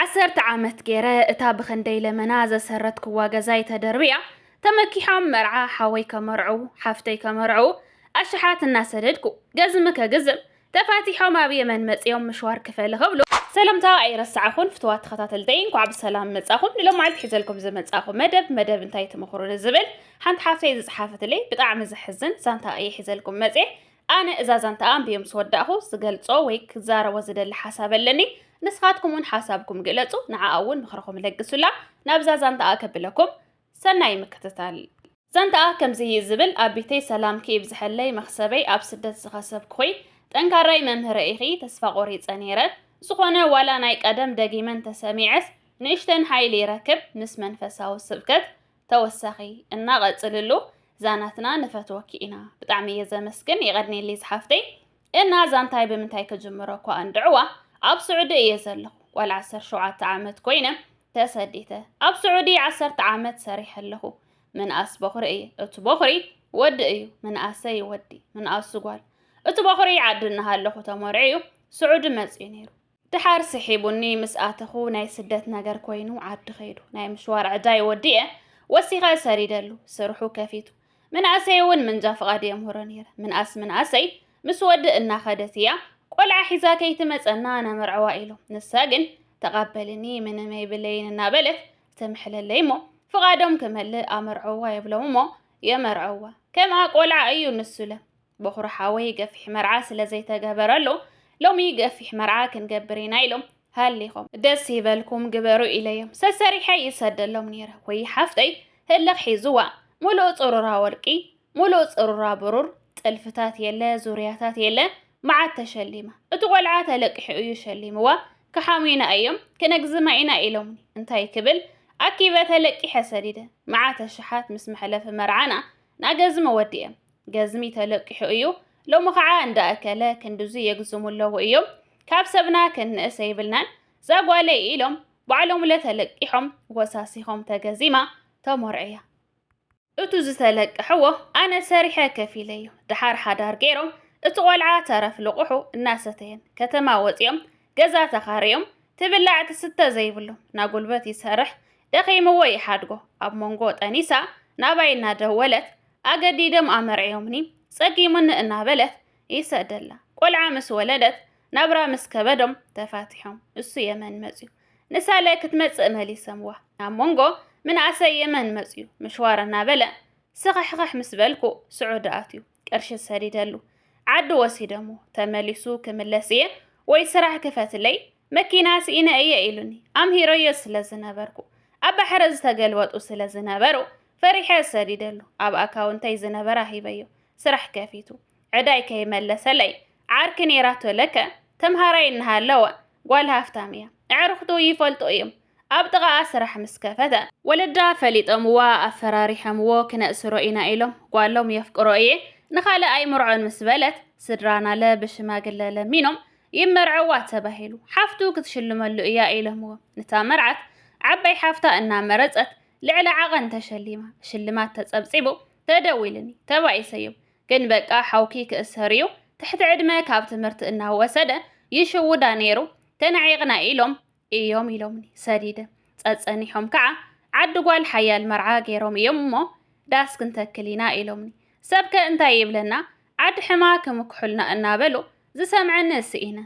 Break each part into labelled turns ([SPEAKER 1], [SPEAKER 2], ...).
[SPEAKER 1] ዓሰርተ ዓመት ገይረ እታ ብኽንደይ ለመና ዘሰረትክዋ ገዛይ ተደርቢያ ተመኪሖም መርዓ ሓወይ ከመርዑ ሓፍተይ ከመርዑ ኣሽሓት እናሰደድኩ ገዝሚ ከግዝም ተፋቲሖም ኣብ የመን መፅኦም ምሽዋር ክፈል ክብሉ ሰላምታ ኣይረሳዕኹን ፍትዋት ተኸታተልተይ እንኳዕ ብሰላም መጻኹም ንሎም መዓልቲ ሒዘልኩም ዝመጻኹ መደብ መደብ እንታይ ትምኽሩኒ ዝብል ሓንቲ ሓፍተይ ዝፅሓፈትለይ ብጣዕሚ ዘሕዝን ዛንታ እየ ሒዘልኩም መፅየ ኣነ እዛ ዛንታ ኣንብየ ምስ ወዳእኹ ዝገልጾ ወይ ክዛረቦ ዝደሊ ሓሳብ ኣለኒ ንስኻትኩም እውን ሓሳብኩም ግለጹ ንዓኣ እውን ምኽርኹም ለግሱላ ናብዛ ዛንታኣ ከብለኩም ሰናይ ምክትታል ዛንታኣ ከምዚ እዩ ዝብል ኣቢተይ ሰላምኪ ይብዝሐለይ መኽሰበይ ኣብ ስደት ዝኸሰብኩ ኹይ ጠንካራይ መምህረ ኢኺ ተስፋ ቆሪጸ ነይረ ዝኾነ ዋላ ናይ ቀደም ደጊመን ተሰሚዐስ ንእሽተን ሓይሊ ይረክብ ምስ መንፈሳዊ ስብከት ተወሳኺ እና ቀፅልሉ ዛናትና ንፈትወኪ ኢና ብጣዕሚ እየ ዘመስግን ይቐድኔሊ ዝሓፍተይ እና ዛንታይ ብምንታይ ክጅምሮ እኳ እንድዕዋ ኣብ ስዑዲ እየ ዘለኹ ጓል ዓሰርተ ሸውዓተ ዓመት ኮይነ ተሰዲተ ኣብ ስዑዲ ዓሰርተ ዓመት ሰሪሐ ኣለኹ ምንኣስ ቦኽሪ እየ እቲ ቦኽሪ ወዲ እዩ ምንኣሰይ ወዲ ምንኣሱ ጓል እቲ ቦኽሪ ዓዲ እናሃለኹ ተመርዕዩ ስዑዲ መፅዩ ነይሩ ድሓር ስሒቡኒ ምስ ኣተኹ ናይ ስደት ነገር ኮይኑ ዓዲ ከይዱ ናይ ምሽዋር ዕዳይ ወዲኤ ወሲኸ ሰሪደሉ ስርሑ ከፊቱ ምንእሰይ እውን ምንጃ ፍቓድ የምህሮ ነይረ ምንኣስ ምንኣሰይ ምስ ወዲ እናኸደት እያ ቆልዓ ሒዛ ከይትመፀና ነመርዕዋ ኢሎም ንሳ ግን ተቓበልኒ ምንም ኣይብለይን እናበለት ተምሕለለይ እሞ ፍቓዶም ክመልእ ኣመርዕዋ የብሎም እሞ የመርዕዋ ከምኣ ቆልዓ እዩ ንሱለ በኹሪ ሓወይ ገፊሕ መርዓ ስለ ዘይተገበረሉ ሎሚ ገፊሕ መርዓ ክንገብር ኢና ኢሎም ሃሊኾም ደስ ይበልኩም ግበሩ ኢለዮም ሰሰሪሐ ይሰደሎም ነይረ ወይ ሓፍተይ ህልኽ ሒዝዋ ሙሉእ ፅሩራ ወርቂ ሙሉእ ፅሩራ ብሩር ጥልፍታት የለ ዙርያታት የለ መዓት ተሸሊማ እቲ ቆልዓ ተለቂሑ እዩ ሸሊምዋ ክሓሙና እዮም ክነግዝማ ኢና ኢሎምኒ እንታይ ክብል ኣኪበ ተለቂሐ ሰዲደ መዓተ ሸሓት ምስ መሕለፊ መርዓና ናገዝመ ወዲኤም ገዝሚ ተለቂሑ እዩ። ሎሚ ከዓ እንዳ እከለ ክንድዙ የግዝሙ ኣለዉ እዮም። ካብ ሰብና ክንእሰ ይብልናን ዛጓለይ ኢሎም ባዕሎምለ ተለቂሖም ወሳሲኾም ተገዚማ ተሞርዕያ። እቱ ዝተለቀሕዎ ኣነ ሰሪሐ ከፊለ እዩ። ድሓር ሓዳር ገይሮም እቲ ቆልዓ ተረፍ ልቑሑ እናሰተየን ከተማ ወፂኦም ገዛ ተኻርዮም ትብላዕ ትስተ ዘይብሉ ናጉልበት ይሰርሕ ደኺምዎ ይሓድጎ ኣብ መንጎ ጠኒሳ ናባይ እናደወለት ኣገዲዶም ኣመርዕዮምኒ ጸጊሙኒ እናበለት ይሰደላ ቆልዓ ምስ ወለደት ናብራ ምስ ከበዶም ተፋቲሖም እሱ የመን መጽዩ ንሳለ ክትመጽእ መሊሰምዋ ኣብ መንጎ ምንኣሰይ የመን መጽዩ ምሽዋር እናበለ ስኽሕኽሕ ምስ በልኩ ስዑዲ ኣትዩ ቅርሺ ሰዲደሉ ዓዲ ወሲደሞ ተመሊሱ ክምለስ እየ ወይ ስራሕ ክፈትለይ መኪና ስኢነ እየ ኢሉኒ ኣምሂረዮ ስለ ዝነበርኩ ኣብ ባሕሪ ዝተገልበጡ ስለ ዝነበሩ ፈሪሐ ሰዲደሉ ኣብ ኣካውንተይ ዝነበራ ሂበዮ ስራሕ ከፊቱ ዕዳይ ከይመለሰለይ ዓርኪ ነይራቶ ለከ ተምሃራይ እናሃለወ ጓል ሃፍታም እያ ኣዕርኽቱ ይፈልጡ እዮም ኣብ ጥቓኣ ስራሕ ምስ ከፈተ። ወለዳ ፈሊጠምዋ ኣፈራሪሐምዎ ክነእስሮ ኢና ኢሎም ጓሎም የፍቅሮ እየ ንኻልእ ኣይምርዖን ምስ በለት ስድራ ናለ ብሽማግለ ለሚኖም ይመርዐዋ ተባሂሉ ሓፍቱ ክትሽልመሉ እያ ኢሎምዎም ንታ መርዓት ዓባይ ሓፍታ እናመረፀት ልዕሊ ዓቐን ተሸሊማ ሽልማት ተፀብፂቡ ተደዊልኒ ተባኢሰዮም ግን በቃ ሓውኪ ክእሰር እዩ ትሕቲ ዕድመ ካብ ትምህርቲ እናወሰደ ይሽውዳ ነይሩ ተናዒቕና ኢሎም እዮም ኢሎምኒ ሰዲደ ጸጸኒሖም ከዓ ዓዲ ጓል ሓያል መርዓ ገይሮም እዮም እሞ ዳስ ክንተክል ኢና ኢሎምኒ ሰብከ እንታይ ይብለና ዓዲ ሕማ ክምክሑልና እናበሉ ዝሰምዐኒ እስኢነ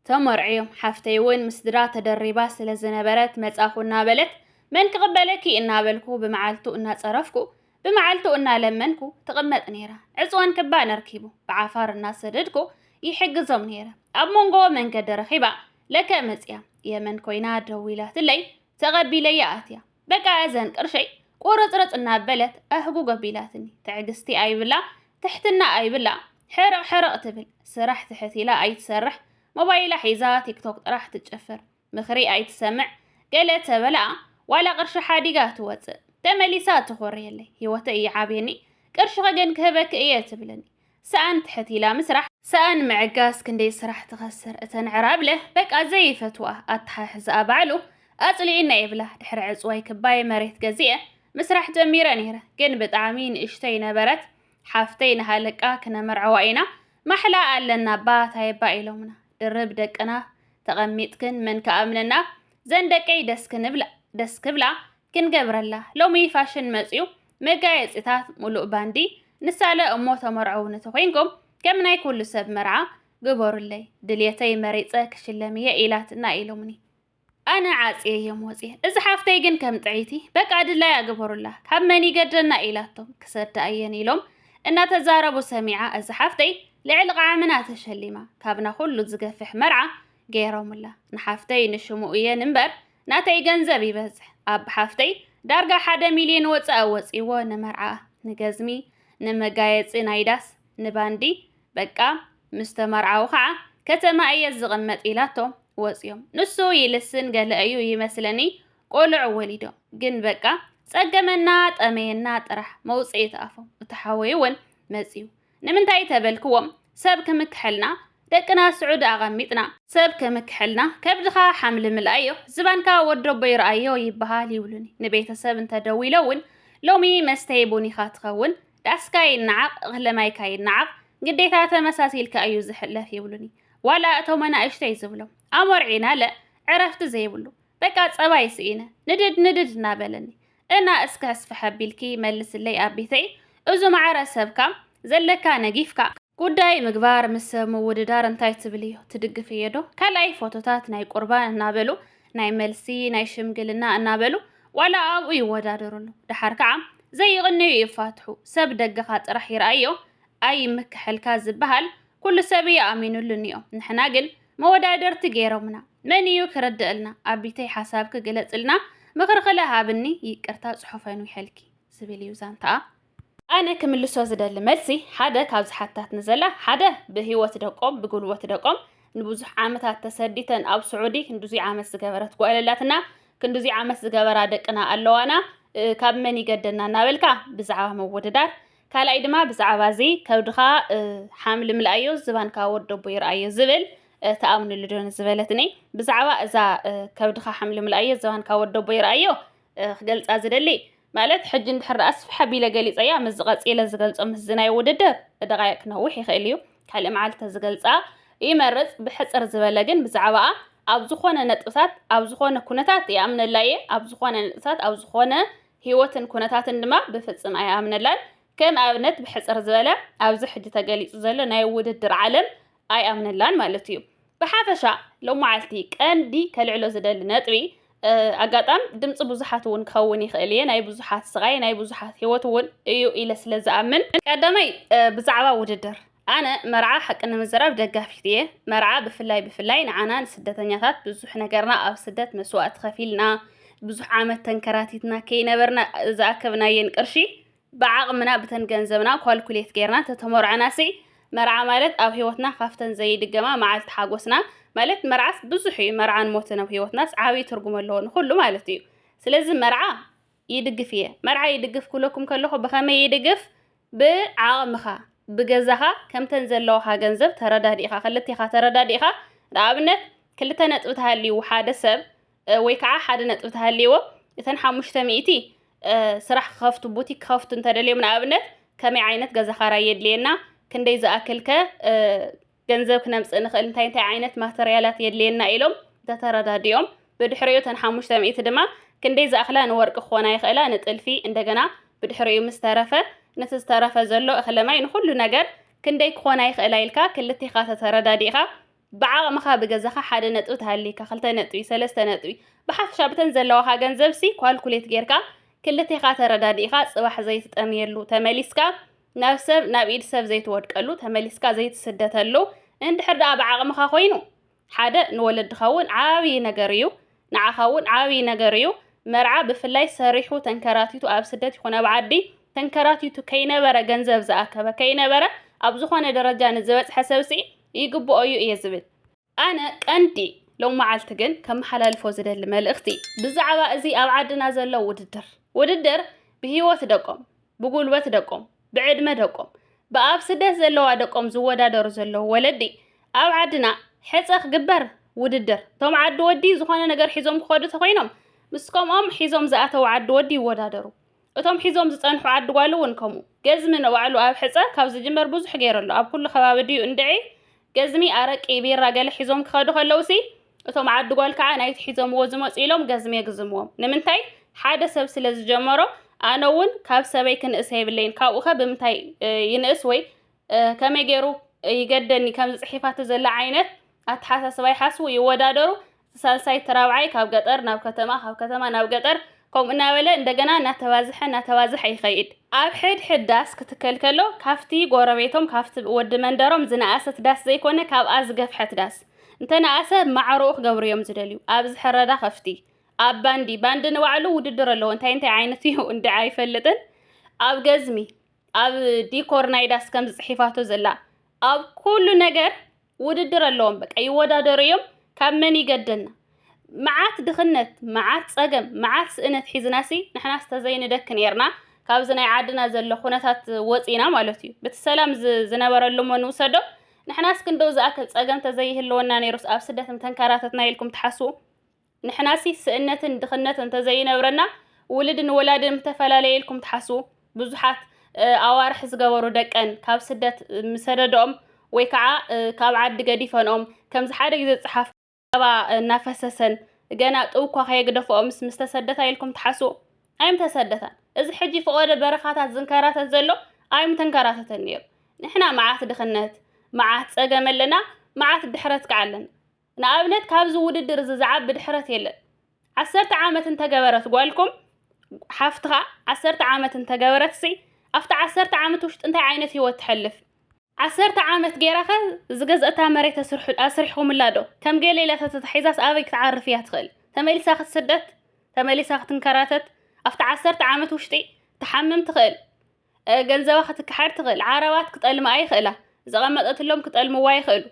[SPEAKER 1] ተመርዕዮም ሓፍተይ እውን ምስ ድራ ተደሪባ ስለ ዝነበረት መጻኹ እናበለት መን ክቕበለኪ እናበልኩ ብመዓልቱ እናጸረፍኩ ብመዓልቱ እናለመንኩ ትቕመጥ ነይራ። ዕጽዋን ክባን ኣርኪቡ ብዓፋር እናሰደድኩ ይሕግዞም ነይረ። ኣብ መንጎ መንገዲ ረኺባ ለከ መጽያ የመን ኮይና ደዊላትለይ ተቐቢለያ ኣትያ። በቃ እዘን ቅርሸይ ቁርጽርጽ እናበለት ኣህጉግ ኣቢላትኒ። ትዕግስቲ ኣይብላ ትሕትና ኣይብላ ሕርቕ ሕርቕ ትብል። ስራሕ ትሕት ኢላ ኣይትሰርሕ ሞባይላ ሒዛ ቲክቶክ ጥራሕ ትጭፍር። ምኽሪ ኣይትሰምዕ ገለ ተበላ ዋላ ቅርሺ ሓዲጋ ትወጽእ ተመሊሳ ትኾርየለይ ሂወተይ ይዓብየኒ ቅርሽኺ ግን ክህበኪ እየ ትብለኒ ሰኣን ትሕት ኢላ ምስራሕ ሰኣን ምዕጋስ ክንደይ ስራሕ ትኸስር እተን ዕራብለ በቃ ዘይፈትዋ ኣተሓሕዝኣ ባዕሉ ኣጽሊኢና ይብላ ድሕሪ ዕጽዋይ ክባይ መሬት ገዚኤ ምስራሕ ጀሚረ ነይረ ግን ብጣዕሚ ንእሽተይ ነበረት ሓፍተይ ንሃለቃ ክነመርዐዋ ኢና ማሕላ ኣለና ባ ታይባ ኢሎምና ድርብ ደቅና ተቐሚጥክን መን ክኣምነና ዘን ደቀይ ደስ ክንብላ ደስ ክብላ ክንገብረላ ሎሚ ፋሽን መጽዩ መጋየጺታት ሙሉእ ባንዲ ንሳለ እሞ ተመርዐው ንተኾይንኩም ከም ናይ ኩሉ ሰብ መርዓ ግበሩለይ ድልየተይ መሪጸ ክሽለም እየ ኢላትና ኢሎምኒ ኣነ ዓጽየ እዮም ወፅየ እዚ ሓፍተይ ግን ከም ጥዒቲ በቃ ድላይ ኣገበሩላ ካብ መን ይገደና ኢላቶም ክሰዳ እየን ኢሎም እናተዛረቡ ሰሚዓ እዚ ሓፍተይ ልዕሊ ቓዕምና ተሸሊማ ካብና ኩሉ ዝገፍሕ መርዓ ገይሮምላ ንሓፍተይ ንሽሙ እየን እምበር ናተይ ገንዘብ ይበዝሕ ኣብ ሓፍተይ ዳርጋ ሓደ ሚልዮን ወፃኢ ወፂዎ ንመርዓ ንገዝሚ ንመጋየፂ ናይ ዳስ ንባንዲ በቃ ምስ ተመርዓው ከዓ ከተማ እየ ዝቕመጥ ኢላቶ ወፂኦም ንሱ ይልስን ገለ እዩ ይመስለኒ ቆልዑ ወሊዶም ግን በቃ ጸገመና ጠመየና ጥራሕ መውፅኢት ኣፎም እቲ ሓወይ እውን መፅዩ ንምንታይ ተበልክዎም ሰብ ክምክሐልና ደቅና ስዑዲ ኣቐሚጥና። ሰብ ክምክሐልና ከብድኻ ሓምሊ ምልኣዮ ዝባንካ ወደቦይ ርኣዮ ይበሃል ይብሉኒ ንቤተሰብ እንተ ደዊለ እውን ሎሚ መስተይ ቡን ኢኻ ትኸውን ዳስካ ይነዓቕ እኽለ ማይካ ይነዓቕ ግዴታ ተመሳሲልካ እዩ ዝሕለፍ ይብሉኒ ዋላ እቶም ኣናእሽተይ ዝብሎም ኣሞርዒናለ ዕረፍቲ ዘይብሉ በቃ ፀባይ ስኢነ ንድድ ንድድ እናበለኒ እና እስከ ስፍሕ ኣቢልኪ መልስለይ ኣቢተይ እዙ ማዕረ ሰብካ ዘለካ ነጊፍካ። ጉዳይ ምግባር ምስ ሰብ ምውድዳር እንታይ ትብልዮ ትድግፍዮዶ ካልኣይ ፎቶታት ናይ ቁርባን እናበሉ ናይ መልሲ ናይ ሽምግልና እናበሉ ዋላ ኣብኡ ይወዳደሩ ኣለው ደሓር ከዓ ዘይቕንዩ ይፋትሑ ሰብ ደግኻ ጥራሕ ይርኣዮ ኣይምከሐልካ ዝበሃል ኩሉ ሰብ እዩ ኣሚኑሉ እኒኦ ንሕና ግን መወዳደርቲ ገይሮምና መን እዩ ክርድእልና ኣቢተይ ሓሳብኪ ግለፅልና ምክርክለ ሃብኒ ይቅርታ ፅሑፈን ዊሐልኪ ዝብል እዩ ዛንታኣ ኣነ ክምልሶ ዝደሊ መልሲ ሓደ ካብ ዝሓታት ንዘላ ሓደ ብህይወት ደቆም ብጉልበት ደቆም ንብዙሕ ዓመታት ተሰዲተን ኣብ ስዑዲ ክንዱዙይ ዓመት ዝገበረት ጓለላትና ክንዱዙይ ዓመት ዝገበራ ደቅና ኣለዋና ካብ መን ይገደና እናበልካ ብዛዕባ ምውድዳር ካልኣይ ድማ ብዛዕባ እዚ ከብድኻ ሓምሊ ምልኣዮ ዝባንካ ወደቦ ይርኣዮ ዝብል ተኣምንሉ ዶ ዝበለትኒ ብዛዕባ እዛ ከብድኻ ሓምሊ ምልኣዮ ዝባንካ ወደቦ ይርኣዮ ክገልፃ ዝደሊ ማለት ሕጂ እንድሕር ደኣ ስፍሕ ኣቢለ ገሊፀያ ምስ ዝቐፂለ ዝገልፆ ምስዚ ናይ ውድድር ደቓይቕ ክነውሕ ይኽእል እዩ ካልእ መዓልቲ ተዝገልፃ ይመርፅ ብሕፅር ዝበለ ግን ብዛዕባኣ ኣብ ዝኾነ ነጥብታት ኣብ ዝኾነ ኩነታት ይኣምነላ እየ ኣብ ዝኾነ ነጥብታት ኣብ ዝኾነ ህይወትን ኩነታትን ድማ ብፍጽም ኣይኣምነላን። ከም ኣብነት ብሕጽር ዝበለ ኣብዚ ሕጂ ተገሊጹ ዘሎ ናይ ውድድር ዓለም ኣይኣምነላን ማለት እዩ። ብሓፈሻ ሎማዓልቲ ቀንዲ ከልዕሎ ዝደሊ ነጥቢ ኣጋጣም ድምፂ ብዙሓት እውን ክኸውን ይኽእል እየ ናይ ብዙሓት ስቓይ ናይ ብዙሓት ህይወት እውን እዩ ኢለ ስለ ዝኣምን ቀዳማይ ብዛዕባ ውድድር ኣነ መርዓ ሓቂ ንምዝራብ ደጋፊት እየ። መርዓ ብፍላይ ብፍላይ ንዓና ንስደተኛታት ብዙሕ ነገርና ኣብ ስደት መስዋእቲ ከፊልና ብዙሕ ዓመት ተንከራቲትና ከይነበርና ዝኣከብናየን ቅርሺ ብዓቕምና ብተን ገንዘብና ኳልኩሌት ጌርና ተተመርዕናሲ መርዓ ማለት ኣብ ህይወትና ካብተን ዘይድገማ መዓልቲ ሓጎስና ማለት መርዓስ ብዙሕ እዩ መርዓን ሞትን ኣብ ህይወትናስ ዓብዪ ትርጉም ኣለዎ ንኹሉ ማለት እዩ ስለዚ መርዓ ይድግፍ እየ መርዓ ይድግፍ ክብለኩም ከለኹ ብኸመይ ይድግፍ ብዓቕምኻ ብገዛኻ ከምተን ዘለዋኻ ገንዘብ ተረዳዲእኻ ክልቴኻ ተረዳዲእኻ ንኣብነት ክልተ ነጥቢ ተሃልይዎ ሓደ ሰብ ወይ ከዓ ሓደ ነጥቢ ተሃልይዎ እተን ሓሙሽተ ሚእቲ ስራሕ ክኸፍቱ ቡቲክ ክኸፍቱ እንተደልዮም ንኣብነት ከመይ ዓይነት ገዛ ኻራይ የድልየና ክንደይ ዝኣክልከ ገንዘብ ክነምፅእ ንኽእል እንታይ እንታይ ዓይነት ማተርያላት የድልየና ኢሎም ተተረዳዲኦም ብድሕሪኡ ተን ሓሙሽተ ሚእቲ ድማ ክንደይ ዝኣኽላ ንወርቂ ክኾና ይኽእላ ንጥልፊ እንደገና ብድሕሪኡ ምስ ተረፈ ነቲ ዝተረፈ ዘሎ እኽለማይ ንኹሉ ነገር ክንደይ ክኾና ይኽእላ ኢልካ ክልቴኻ ተተረዳዲእኻ ብዓቕምኻ ብገዛኻ ሓደ ነጥቢ ተሃሊካ ክልተ ነጥቢ ሰለስተ ነጥቢ ብሓፈሻ ብተን ዘለዋኻ ገንዘብሲ ኳልኩሌት ጌርካ ክልቴኻ ተረዳዲእኻ ፅባሕ ዘይትጠምየሉ ተመሊስካ ናብ ሰብ ናብ ኢድ ሰብ ዘይትወድቀሉ ተመሊስካ ዘይትስደተሉ እንድሕር ደኣ ብዓቕምኻ ኮይኑ ሓደ ንወለድኻ እውን ዓብዪ ነገር እዩ ንዓኻ እውን ዓብዪ ነገር እዩ መርዓ ብፍላይ ሰሪሑ ተንከራቲቱ ኣብ ስደት ይኹን ኣብ ዓዲ ተንከራቲቱ ከይነበረ ገንዘብ ዝኣከበ ከይነበረ ኣብ ዝኾነ ደረጃ ንዝበፅሐ ሰብሲ ይግብኦ እዩ እየ ዝብል ኣነ ቀንዲ ሎም መዓልቲ ግን ከመሓላልፎ ዝደሊ መልእኽቲ ብዛዕባ እዚ ኣብ ዓድና ዘሎ ውድድር ውድድር ብሂወት ደቆም ብጉልበት ደቆም ብዕድመ ደቆም ብኣብ ስደት ዘለዋ ደቆም ዝወዳደሩ ዘለዉ ወለዲ ኣብ ዓድና ሕጸ ክግበር ውድድር እቶም ዓዲ ወዲ ዝኾነ ነገር ሒዞም ክኸዱ ተኾይኖም ምስ ከምኦም ሒዞም ዝኣተው ዓዲ ወዲ ይወዳደሩ እቶም ሒዞም ዝጸንሑ ዓዲ ጓል እውን ከምኡ። ገዝሚ ንባዕሉ ኣብ ሕጸ ካብ ዝጅመር ብዙሕ ገይሩ ኣሎ። ኣብ ኩሉ ከባቢ ድዩ እንድዒ ገዝሚ፣ ኣረቂ፣ ቢራ ገለ ሒዞም ክኸዱ ከለውሲ እቶም ዓዲ ጓል ከዓ ናይቲ ሒዞምዎ ዝመጹ ኢሎም ገዝሚ የግዝምዎም። ንምንታይ? ሓደ ሰብ ስለ ዝጀመሮ ኣነ እውን ካብ ሰበይ ክንእስ የብለይን። ካብኡኸ ብምንታይ ይንእስ ወይ ከመይ ገይሩ ይገደኒ ከምዚ ጽሒፋቶ ዘላ ዓይነት ኣተሓሳስባ ይሓስቡ፣ ይወዳደሩ፣ ሳልሳይ እቲ ራብዓይ ካብ ገጠር ናብ ከተማ ካብ ከተማ ናብ ገጠር ከምኡ እናበለ እንደገና እናተባዝሐ እናተባዝሐ ይኸይድ። ኣብ ሕድሕድ ዳስ ክትከል ከሎ ካብቲ ጎረቤቶም ካብቲ ወዲ መንደሮም ዝነኣሰት ዳስ ዘይኮነ ካብኣ ዝገፍሐት ዳስ እንተነኣሰ ማዕረኡ ክገብሩ እዮም ዝደልዩ። ኣብዚ ሕረዳ ከፍቲ ኣብ ባንዲ ባንዲ ንባዕሉ ውድድር ኣለዎ እንታይ እንታይ ዓይነት እዩ እንድዒ ኣይፈልጥን ኣብ ገዝሚ ኣብ ዲኮር ናይ ዳስ ከምዚ ጽሒፋቶ ዘላ ኣብ ኩሉ ነገር ውድድር ኣለዎም በቃ ይወዳደሩ እዮም ካብ መን ይገደና መዓት ድኽነት መዓት ጸገም መዓት ስእነት ሒዝናሲ ንሕናስ ተዘይንደክ ነርና ካብዚ ናይ ዓድና ዘሎ ኩነታት ወፂና ማለት እዩ ብቲ ሰላም ዝነበረሉ እሞ ንውሰዶ ንሕናስ ክንደው ዝኣክል ጸገም ተዘይህልወና ነይሩስ ኣብ ስደት ምተንከራተትና ኢልኩም ትሓስቡ ንሕናሲ ስእነትን ድኽነት እንተዘይነብረና ውልድን ወላድን ምተፈላለየ ኢልኩም ትሓስቡ? ብዙሓት ኣዋርሕ ዝገበሩ ደቀን ካብ ስደት ምሰደደኦም ወይ ከዓ ካብ ዓዲ ገዲፈንኦም ከምዚ ሓደ ግዜ ዝፀሓፍ ጸባ እናፈሰሰን ገና ጥው እኳ ከየግደፈኦምስ ምስተሰደታ ኢልኩም ትሓስቡ? ኣይምተሰደታን። እዚ ሕጂ ፈቆደ በረኻታት ዝንከራተት ዘሎ ኣይምተንከራተተን ነይሩ። ንሕና መዓት ድኽነት፣ መዓት ጸገም ኣለና፣ መዓት ድሕረት ከዓ ኣለና። ንኣብነት ካብዚ ውድድር እዚ ዝዓቢ ድሕረት የለን። ዓሰርተ ዓመት እንተገበረት ጓልኩም ሓፍትኻ ዓሰርተ ዓመት እንተገበረትሲ ኣብቲ ዓሰርተ ዓመት ውሽጢ እንታይ ዓይነት ህይወት ትሐልፍ? ዓሰርተ ዓመት ገይራኸ ዝገዝኣታ መሬት ኣስሪሕኹምላ ዶ? ከም ገለ ኢላ ተተታሒዛስ ኣበይ ክትዓርፍ እያ ትኽእል? ተመሊሳ ክትስደት? ተመሊሳ ክትንከራተት? ኣብቲ ዓሰርተ ዓመት ውሽጢ ትሓምም ትኽእል። ገንዘባ ክትከሓድ ትኽእል ዓረባት ክጠልማኣ ይኽእላ ዘቐመጠትሎም ክጠልምዋ ይኽእሉ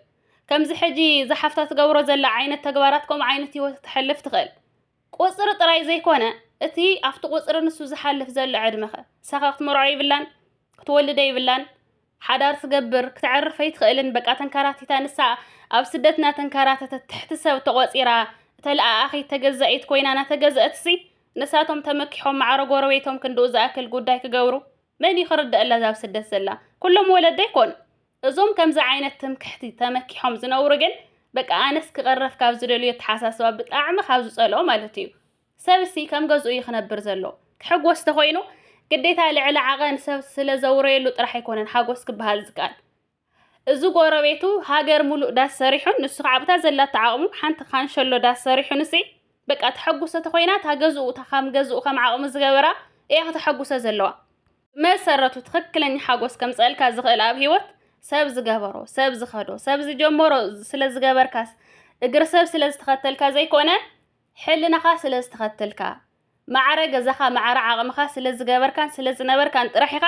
[SPEAKER 1] ከምዚ ሕጂ ዝሓፍታ ትገብሮ ዘላ ዓይነት ተግባራት ከምኡ ዓይነት ህይወት ክተሕልፍ ትኽእል ቁፅሪ ጥራይ ዘይኮነ እቲ ኣብቲ ቁፅሪ ንሱ ዝሓልፍ ዘሎ ዕድመኸ ሳኻ ክትመርዖ ይብላን ክትወልደ ይብላን ሓዳር ትገብር ክትዕርፍ ኣይትኽእልን በቃ ተንከራቲታ ንሳ ኣብ ስደት እናተንከራተተት ትሕቲ ሰብ ተቖፂራ ተለኣኣኺት ተገዛኢት ኮይና እናተገዘአትሲ ንሳቶም ተመኪሖም ማዕረ ጎረቤቶም ክንድኡ ዝኣክል ጉዳይ ክገብሩ መን እዩ ክርደኣላ እዛ ኣብ ስደት ዘላ ኩሎም ወለዶ ኣይኮኑ እዞም ከምዚ ዓይነት ትምክሕቲ ተመኪሖም ዝነብሩ ግን በቃ ኣነስ ክቐረፍ ካብ ዝደልዮ ኣተሓሳስባ ብጣዕሚ ካብ ዝጸልኦ ማለት እዩ ሰብ እሲ ከም ገዝኡ እዩ ክነብር ዘሎ ክሕጎስ ተኾይኑ ግዴታ ልዕሊ ዓቐን ሰብ ስለ ዘውረየሉ ጥራሕ ኣይኮነን ሓጎስ ክበሃል ዝከኣል እዚ ጎረቤቱ ሃገር ሙሉእ ዳስ ሰሪሑን ንሱ ከዓ ኣብታ ዘላቶ ዓቕሙ ሓንቲ ካንሸሎ ዳስ ሰሪሑንሲ በቃ ተሐጉሰ ተኾይና እታ ገዝኡ እታ ከም ገዝኡ ከም ዓቕሙ ዝገበራ እያ ከተሐጉሰ ዘለዋ። ብመሰረቱ ትኽክለኛ ሓጎስ ከምፀእልካ ዝኽእል ኣብ ህይወት ሰብ ዝገበሮ፣ ሰብ ዝኸዶ፣ ሰብ ዝጀመሮ ስለ ዝገበርካስ እግሪ ሰብ ስለ ዝተኸተልካ ዘይኮነ ሕልናኻ ስለ ዝተኸትልካ ማዕረ ገዛኻ ማዕረ ዓቕምኻ ስለ ዝገበርካን ስለ ዝነበርካን ጥራሕ ኢኻ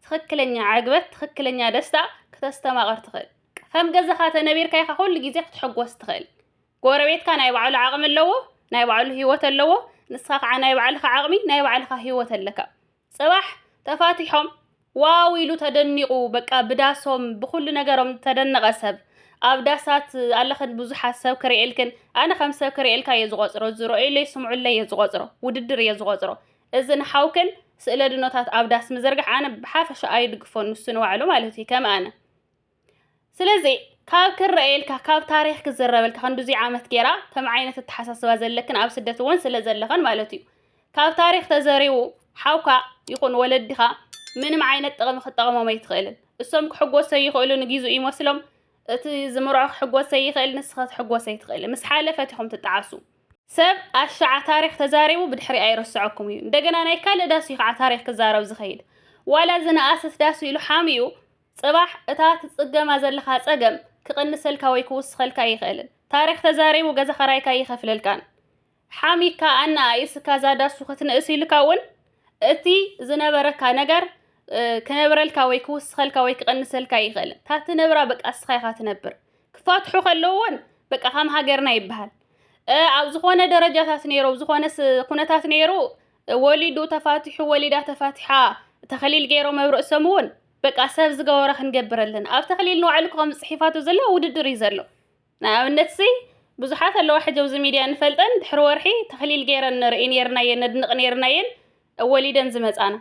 [SPEAKER 1] ትኽክለኛ ዕግበት፣ ትኽክለኛ ደስታ ክተስተማቕር ትኽእል። ከም ገዛኻ ተነቢርካ ኢኻ ኩሉ ግዜ ክትሕጎስ ትኽእል። ጎረቤትካ ናይ ባዕሉ ዓቕሚ ኣለዎ፣ ናይ ባዕሉ ህይወት ኣለዎ፣ ንስኻ ከዓ ናይ ባዕልኻ ዓቕሚ፣ ናይ ባዕልኻ ህይወት ኣለካ። ጽባሕ ተፋቲሖም ዋው ኢሉ ተደኒቑ በቃ ብዳሶም ብኹሉ ነገሮም ዝተደነቐ ሰብ ኣብ ዳሳት ኣለኽን ብዙሓት ሰብ ክርእየልክን ኣነ ከም ሰብ ክርእየልካ እየ ዝቖጽሮ ዝረኦይለይ ስምዑለይ እየ ዝቖጽሮ ውድድር እየ ዝቖጽሮ እዚ ንሓውክን ስእለ ድኖታት ኣብ ዳስ ምዝርጋሕ ኣነ ብሓፈሻ ኣይድግፎን ንሱ ንባዕሉ ማለት እዩ ከም ኣነ ስለዚ ካብ ክረኣየልካ ካብ ታሪኽ ክዝረበልካ ክንድዙይ ዓመት ጌራ ከም ዓይነት ኣተሓሳስባ ዘለክን ኣብ ስደት እውን ስለ ዘለኽን ማለት እዩ ካብ ታሪኽ ተዘሪቡ ሓውካ ይኹን ወለድኻ ምንም ዓይነት ጥቕሚ ክጠቕሞም ኣይትኽእልን እሶም ክሕጎሰ ይኽእሉ ንጊዙ ይመስሎም እቲ ዝምርዖ ክሕጎሰ ይኽእል ንስኸ ትሕጎሰ ይትኽእል ምስ ሓለፈት ኢኹም ትጠዓሱ ሰብ ኣሻዓ ታሪክ ተዛሪቡ ብድሕሪ ኣይረስዐኩም እዩ እንደገና ናይ ካልእ ዳስ እዩ ከዓ ታሪክ ክዛረብ ዝኸይድ ዋላ ዝነኣሰት ዳስ ኢሉ ሓሚኡ ጽባሕ እታ ትጽገማ ዘለኻ ጸገም ክቕንሰልካ ወይ ክውስኸልካ ኣይኽእልን። ታሪኽ ተዛሪቡ ገዛ ኸራይካ ኣይኸፍለልካን። ሓሚካ ኣነኣኢስካ እዛ ዳሱ ክትንእስ ኢልካ እውን እቲ ዝነበረካ ነገር ክነብረልካ ወይ ክውስኸልካ ወይ ክቕንሰልካ ኣይኽእልን። እታ ትነብራ በቃ እስኻ ኢኻ ትነብር። ክፋትሑ ከለዉ እውን በቃ ከም ሃገርና ይበሃል ኣብ ዝኾነ ደረጃታት ነይሩ ኣብ ዝኾነ ኩነታት ነይሩ ወሊዱ ተፋቲሑ ወሊዳ ተፋቲሓ ተኸሊል ገይሮም ኣብ ርእሶም እውን በቃ ሰብ ዝገበሮ ክንገብር ኣለና ኣብ ተክሊል ንባዕሉ ክኸም ፅሒፋቶ ዘሎ ውድድር እዩ ዘሎ ንኣብነት ሲ ብዙሓት ኣለዋ ሕጂ ኣብዚ ሚድያ ንፈልጠን ድሕሪ ወርሒ ተኽሊል ገይረን ንርኢ ነርናየን ነድንቕ ነርናየን ወሊደን ዝመፃና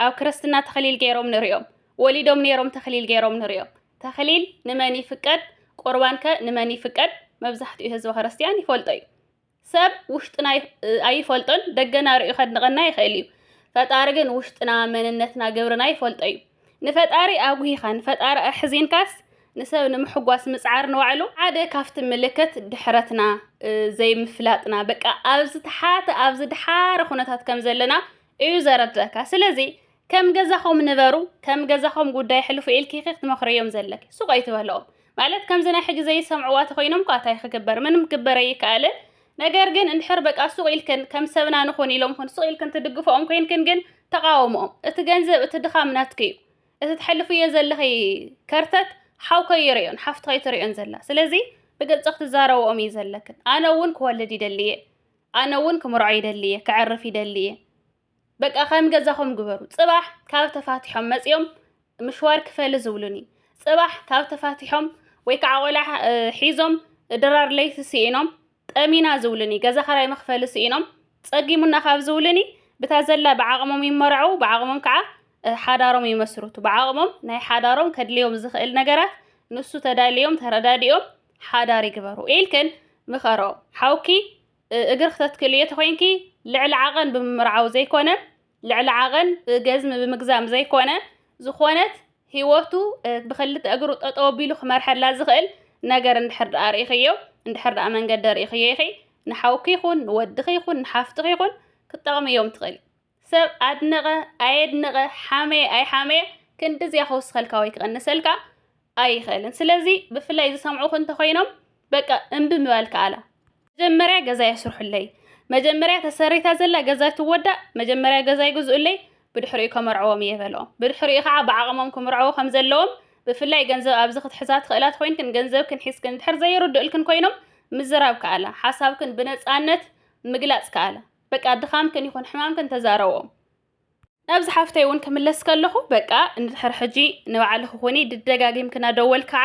[SPEAKER 1] ኣብ ክርስትና ተኽሊል ገይሮም ንሪኦም ወሊዶም ነይሮም ተኽሊል ገይሮም ንሪኦም ተኽሊል ንመን ይፍቀድ ቁርባንከ ንመን ይፍቀድ መብዛሕትኡ ህዝቢ ክርስትያን ይፈልጦ እዩ ሰብ ውሽጥና ኣይፈልጦን ደገና ርእዩ ከድንቐና ይኽእል እዩ ፈጣሪ ግን ውሽጥና መንነትና ግብርና ይፈልጦ እዩ ንፈጣሪ ኣጉሂኻ ንፈጣሪ ኣሕዚንካስ ንሰብ ንምሕጓስ ምጽዓር ንባዕሉ ሓደ ካብቲ ምልክት ድሕረትና ዘይምፍላጥና በቃ ኣብዚ ተሓተ ኣብዚ ድሓረ ኩነታት ከም ዘለና እዩ ዘረድረካ ስለዚ ከም ገዛኹም ንበሩ ከም ገዛኹም ጉዳይ ሕልፉ ኢልኪ ኢኺ ክትመኽርዮም ዘለኪ ሱቕ ኣይትበልኦም ማለት ከምዚ ናይ ሕጂ ዘይሰምዕዋ ተኾይኖም እኳ እንታይ ክግበር ምንም ክግበር ኣይከኣልን ነገር ግን እንድሕር በቃ ሱቕ ኢልክን ከም ሰብና ንኹን ኢሎም ኹን ሱቕ ኢልክን ትድግፍኦም ኮይንክን ግን ተቓወምኦም እቲ ገንዘብ እቲ ድኻም ናትኪ እዩ እቲ ተሕልፍዮ ዘለኺ ከርተት ሓው ከይርእዮን ሓፍቲ ከይትርእዮን ዘላ ስለዚ ብግልፂ ክትዛረብኦም እዩ ዘለክን ኣነ እውን ክወልድ ይደሊ እየ ኣነ እውን ክምርዖ ይደሊ እየ ከዕርፍ ይደሊ እየ በቃ ከም ገዛኹም ግበሩ። ጽባሕ ካብ ተፋቲሖም መጺኦም ምሽዋር ክፈሊ ዝብሉኒ፣ ጽባሕ ካብ ተፋቲሖም ወይ ከዓ ቆልዓ ሒዞም ድራር ለይቲ ስኢኖም ጠሚና ዝብሉኒ፣ ገዛ ኸራይ መኽፈሊ ስኢኖም ጸጊሙና ካብ ዝብሉኒ ብታ ዘላ ብዓቕሞም ይመርዐው፣ ብዓቕሞም ከዓ ሓዳሮም ይመስርቱ። ብዓቕሞም ናይ ሓዳሮም ከድልዮም ዝኽእል ነገራት ንሱ ተዳልዮም ተረዳዲኦም ሓዳር ይግበሩ ኢልክን ምኸሮ። ሓውኪ እግር ክተትክልዮ ተኾይንኪ ልዕሊ ዓቐን ብምምርዓው ዘይኮነ ልዕሊ ዓቐን ገዝሚ ብምግዛም ዘይኮነ ዝኾነት ህይወቱ ብክልተ እግሩ ጠጠው ኣቢሉ ክመርሐላ ዝኽእል ነገር እንድሕር ደኣ ርኢኽዮ እንድሕር ደኣ መንገዲ ርኢኽዮ ኢኺ ንሓውኪ ይኹን ንወድኺ ይኹን ንሓፍትኺ ይኹን ክትጠቕምዮም ትኽእሊ። ሰብ ኣድነቐ ኣየድነቐ ሓመየ ኣይሓመየ ክንድዚያ ክውስኸልካ ወይ ክቐንሰልካ ኣይኽእልን። ስለዚ ብፍላይ ዝሰምዑኹ እንተኾይኖም በቃ እምቢ ምባል ከኣላ። መጀመርያ ገዛ የስርሑለይ፣ መጀመርያ ተሰሪታ ዘላ ገዛ ትወዳእ፣ መጀመርያ ገዛ ይግዝኡለይ ብድሕሪኡ ከመርዕዎም እየ በልኦም። ብድሕሪኡ ከዓ ብዓቕሞም ክምርዐዉ ከም ዘለዎም ብፍላይ ገንዘብ ኣብዚ ክትሕዛ ትኽእላ ተኾይንክን ገንዘብክን ሒዝክን እንድሕር ዘይርድኡልክን ኮይኖም ምዝራብ ከኣላ። ሓሳብክን ብነፃነት ምግላፅ ከኣላ። በቃ ድኻምክን ይኹን ሕማምክን ተዛረቦ። ናብዚ ሓፍተይ እውን ክምለስ ከለኹ በቃ እንድሕር ሕጂ ንባዕልኺ ኹኒ ድደጋጊምኪ ናደወል ከዓ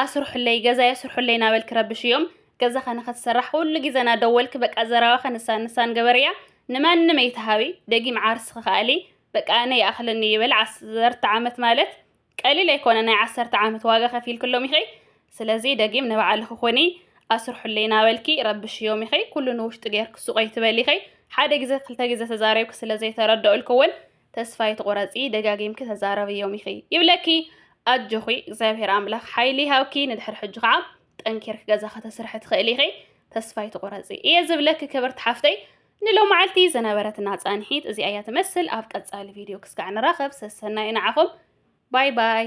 [SPEAKER 1] ኣስርሑለይ ገዛይ ኣስርሑለይ ናበልኪ ረብሽዮም ገዛ ከነኸትሰራሕ ኩሉ ግዜ ናደወልኪ በቃ ዘረባ ከንሳን ንሳን ገበርያ ንማንም ኣይትሃቢ ደጊም ዓርስኺ ከኣሊ በቃ ኣነ ይኣኽለኒ ይበል ዓሰርተ ዓመት ማለት ቀሊል ኣይኮነ ናይ ዓሰርተ ዓመት ዋጋ ከፊልክሎም ኢኺ ስለዚ ደጊም ንባዕልኺ ኩኒ ኣስርሑለይ ናበልኪ ረብሽዮም ኢኺ ኩሉ ንውሽጢ ጌርኪ ሱቕ ኣይትበሊ ኢኺ ሓደ ግዘ ክልተ ግዘ ተዛሪብኪ ስለ ዘይተረደኡልኪ ውን ተስፋ ኣይትቑረጺ ደጋጊምኪ ተዛረብዮም ኢኺ ይብለኪ ኣጆኺ እግዚኣብሄር ኣምላኽ ሓይሊ ይሃብኪ ንድሕሪ ሕጂ ከዓ ጠንኪርኪ ገዛ ከተስርሒ ትኽእሊ ኢኺ ተስፋ ኣይትቑረጺ እየ ዝብለኪ ክብርቲ ሓፍተይ ንሎማዓልቲ ዝነበረትና ፃንሒት እዚኣ እያ ትመስል ኣብ ቀፃሊ ቪድዮ ክስጋዕ ንራኸብ ሰሰናዩ ንዓኹም ባይ ባይ